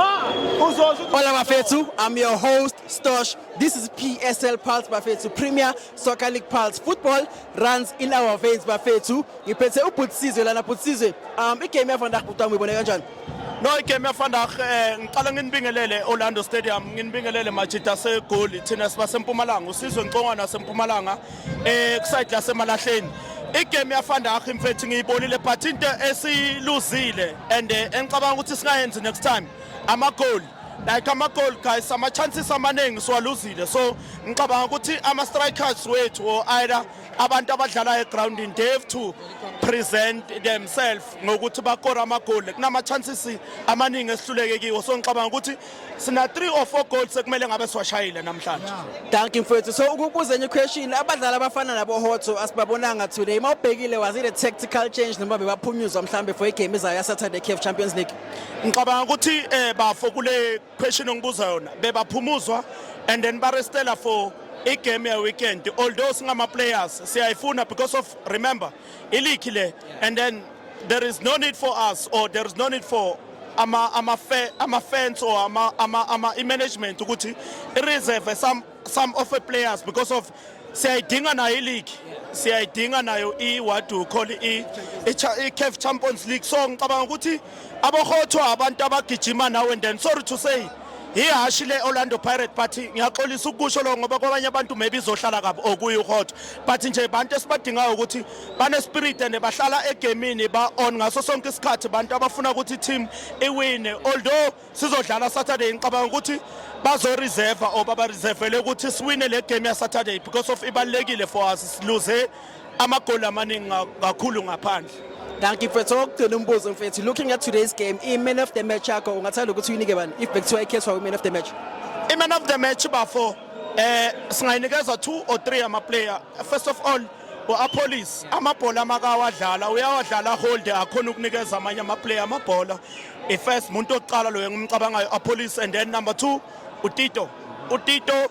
Hola Bafethu, I'm your host Stosh. This is PSL Pulse Bafethu Premier Soccer League Pulse. Football runs in our veins Bafethu. Ngiphethe ubhutsizwe lana bhutsizwe. Um igame yavandag butami ibone kanjani? No igame yavandag eh ngiqala nginibingelele Orlando Stadium, nginibingelele Majita segoli thina siba sempumalanga, usizwe Nkonga nasempumalanga. eh kusayidi lasemalahleni igame yafanda akho mfethu ngiyibonile but into esiluzile and eh, engicabanga ukuthi singayenzi next time amagoli like amagol guys ama-chances amaningi siwaluzile so ngicabanga ukuthi ama-strikers wethu or either abantu abadlala egroundini they have to present themselves ngokuthi bakore amagoli kunama-chances amaningi esihluleke kiwo so ngicabanga ukuthi sina 3 or 4 goals sekumele ngabe siwashayile namhlanje thank you mfethu so ukubuza enye question abadlali abafana nabo hotso asibabonanga today uma ubhekile was it a tactical change noma bebaphunyuzwa mhlambe for igame izayo ya Saturday CAF Champions League ngicabanga ukuthi eh bafo kule question ongibuza yona bebaphumuzwa and then barestela for igame ye weekend although singama players siyayifuna because of remember Iliki le and then there is no need for us or there is no need for ama ama ama fans or ama ama ama management ukuthi reserve some some of the players because of siyayidinga nayo iligi siyayidinga nayo i-what do call i-caf champions league so ngicabanga ukuthi abohothwa abantu abagijima nawe and then sorry to say ihhashi le-orlando pirate but ngiyaxolisa ukusho lokho ngoba kwabanye abantu maybe izohlala kabi okuye uhot but nje bantu esibadingayo ukuthi banespirit and bahlala egemini ba-on ngaso sonke isikhathi bantu abafuna ukuthi i-team iwine although sizodlala saturday ngicabanga ukuthi bazoreserva or babareservele ukuthi siwine le game yasaturday because of ibalulekile for us siluze amagoli amaningi kakhulu ngaphandle Dankie mfethu okugcina umbuzo mfethu looking at today's game i man of the match yakho ungathanda ukuthi uyinike bani if bekuthiwa ikhethwa we man of the match i man of the match bafo eh singayinikeza two or three ama player first of all uApollis amabhola amakawadlala uyawadlala hold akhona ukunikeza amanye ama player amabhola i first muntu oqala loyo ngimcabangayo Apollis and then number 2 uTito uTito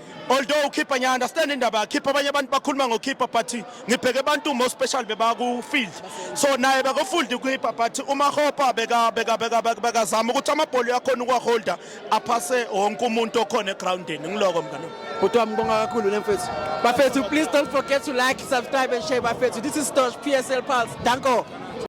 although ukhipha ngiya understand indaba yakhipha abanye abantu bakhuluma ngokhipha but ngibheke abantu more special bebaku field so naye beko field ukhipha but uma hopa beka beka beka beka zama ukuthi amabhola yakhona ukwa holder aphase wonke umuntu okhona egroundini ngiloko mngane Bhuti wami ngibonga kakhulu nemfethu. Bafethu please don't forget to like, subscribe and share bafethu. This is Stosh PSL Pulse. Danko.